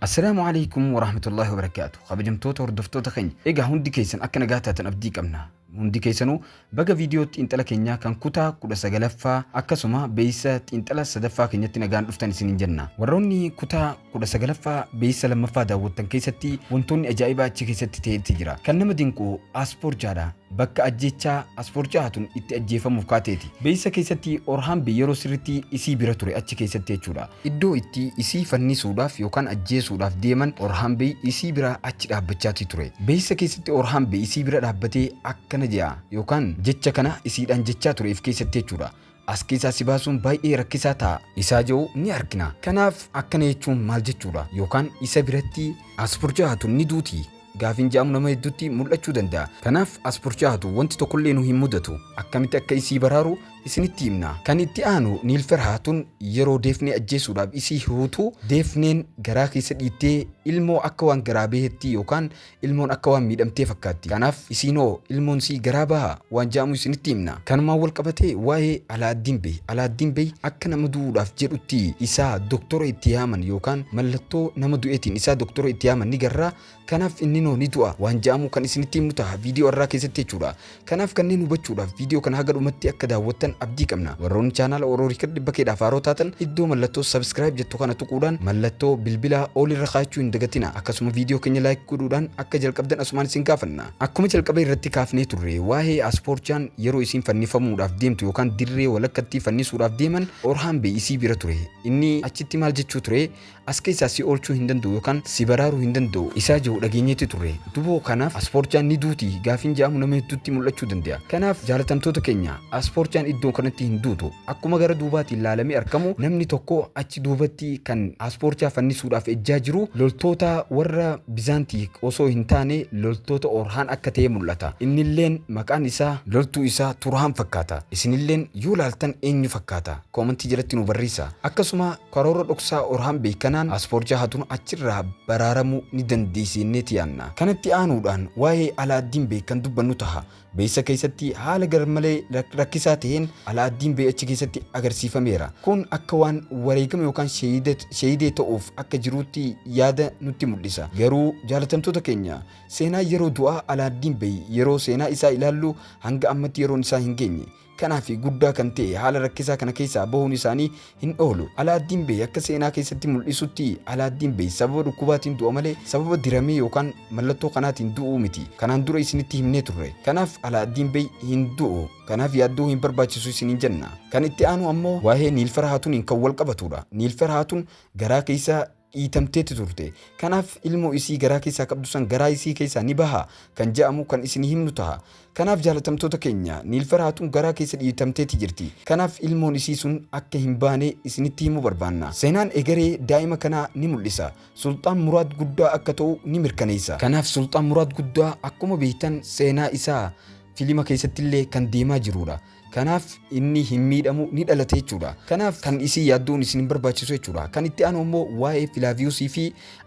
Assalaamu Aleykum Warahmatullaahi Wabarakaatu Kabajamtoota hordoftoota keenya egaa hundi keessan akka nagaa taatan abdii qabna hundi keessanuu baga viidiyoo xiinxala keenyaa kan kutaa kudha sagalaffaa akkasuma beeysa xiinxala sadaffaa keenyatti nagaan dhuftan isiniin jenna warroonni kutaa kudha sagalaffaa beeysa lammaffaa daawwattan keessatti wantoonni ajaa'ibaa achi keessatti ta'etti jira kan nama dinqu aaspoorchaadha bakka ajjeechaa Asfoor Cahatun itti ajjeefamuuf kaateeti. Beeksisa keessatti Orhaanbi yeroo sirriitti isii bira ture, achi keessatti jechuudha. Iddoo itti isii fannisuudhaaf yookaan ajjeesuudhaaf deeman Orhaanbi isii bira achi dhaabbachaatii ture. Beeksisa keessatti Orhaanbi isii bira dhaabbatee akkana je'a yookaan jecha kana isiidhaan jechaa ture if keessatti jechuudha. As keessaa si baasuun baay'ee rakkisaa ta'a isaa jedhu ni argina. Kanaaf akkana jechuun maal jechuudha? Yookaan isa biratti as burjaa'atu ni duuti gaafiin jedhamu nama hedduutti mul'achuu danda'a. Kanaaf as burjaa'atu wanti tokkollee nu hin mudatu. Akkamitti akka isii baraaru isinitti himna. Kan itti aanu Niil Ferhaatun yeroo Deefnee ajjeesuudhaaf isii hiruutu Deefneen garaa keessa dhiittee ilmoo akka waan garaa baheetti yookaan Ilmoon akka waan miidhamtee fakkaatti. Kanaaf isiin hoo ilmoon sii garaa bahaa? waan ja'amu isinitti himna. Kanumaan wal qabatee waa'ee Alaaddin Bey, Alaaddin Bey akka nama du'uudhaaf jedhutti isaa doktora itti yaaman yookaan mallattoo nama du'eetiin isaa doktora itti yaaman ni garra. Kanaaf inninoo ni du'a waan ja'amu kan isinitti himnu taha viidiyoo arraa keessatti jechuudha. Kanaaf kanneen hubachuudhaaf viidiyoo kana haga dhumatti akka daawwattan abdii qabna. Warroonni chaanaala Oro Record dhibba keedhaaf haaroo taatan iddoo mallattoo subscribe jettu kana tuquudhaan mallattoo bilbilaa all irra kaa'achuu hin dagatina. Akkasuma viidiyoo keenya like godhuudhaan akka jalqabdan asumaan isin gaafanna. Akkuma jalqaba irratti kaafnee turre waa'ee Asporchaan yeroo isiin fannifamuudhaaf deemtu yookaan dirree walakkattii fannisuudhaaf deeman Orhaan Bey isii bira ture. Inni achitti maal jechuu ture? as keessaa si oolchuu hin danda'u yookaan si baraaruu hin danda'u isaa jiru dhageenyeetti turre duboo kanaaf aspoorchaan ni duuti gaafiin ja'amu nama hedduutti mul'achuu danda'a kanaaf jaalatamtoota keenya aspoorchaan iddoo kanatti hin duutu akkuma gara duubaatiin laalamee argamu namni tokko achi duubatti kan aspoorchaa fannisuudhaaf ejjaa jiru loltoota warra bizaantii osoo hin taane loltoota orhaan akka ta'e mul'ata innilleen maqaan isaa loltuu isaa turhaan fakkaata isinilleen yoo laaltan eenyu fakkaata koomantii jalatti nu barreessa akkasuma Karoora dhoksaa Orhaan Beekanaan paaspoortii hatuun achirraa baraaramuu ni dandeessi jenneeti yaanna. Kanatti aanuudhaan waa'ee Alaaddiin Bey kan dubbannu taha. Beysa keessatti haala garmalee rakkisaa taheen Alaaddiin Bey achi keessatti agarsiifameera. Kun akka waan wareegama yookaan shahiidee ta'uuf akka jiruutti yaada nutti mul'isa. Garuu jaalatamtoota keenya, seenaa yeroo du'aa Alaaddiin Bey yeroo seenaa isaa ilaallu hanga ammatti yeroon isaa hin geenye. kanaa fi guddaa kan ta'e haala rakkisaa kana keessaa bahuun isaanii hin oolu. Alaaddiin Beey akka seenaa keessatti mul'isutti Alaaddiin Beey sababa dhukkubaatiin du'a malee sababa diramee yookaan mallattoo kanaatiin du'uu miti. Kanaan dura isinitti himnee turre. Kanaaf Alaaddiin Beey hin du'u. Kanaaf yaaddoo hin barbaachisu isiniin jenna. Kan itti aanu ammoo waa'ee Niilfar Haatuniin kan wal qabatuudha. Niilfar Haatun garaa keessaa dhiitamteetti turte. Kanaaf ilmoo isii garaa keessaa qabdu san garaa isii keessaa ni baha kan ja'amu kan isinii himnu taha. Kanaaf jaalatamtoota keenya, Niilfaraa tun garaa keessa dhiitamteetti jirti. Kanaaf ilmoon isii sun akka hin baane isinitti himuu barbaanna. Seenaan egeree daa'ima kanaa ni mul'isa. Sulxaan Muraad guddaa akka ta'u ni mirkaneessa. Kanaaf Sulxaan Muraad guddaa akkuma beeytan seenaa isaa filima keessattillee kan deemaa jiruudha. Kanaaf inni hin miidhamu ni dhalate jechuudha. Kanaaf kan isii yaadduun isin hin barbaachisu jechuudha. Kan itti aanu immoo waa'ee Filaaviyuusii fi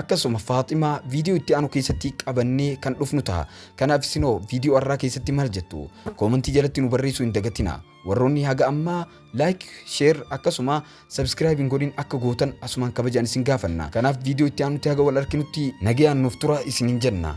akkasuma Faaximaa viidiyoo itti aanu keessatti qabannee kan dhufnu ta'a. Kanaaf isinoo viidiyoo har'aa keessatti maal jettu? Koomantii jalatti nu barreessuu hin dagatina. Warroonni haga ammaa like, share akkasuma subscribe hin godhin akka gootan asumaan kabajaan isin gaafanna. Kanaaf viidiyoo itti aanutti haga wal arkinutti nagayaan nuuf tura isin hin jenna.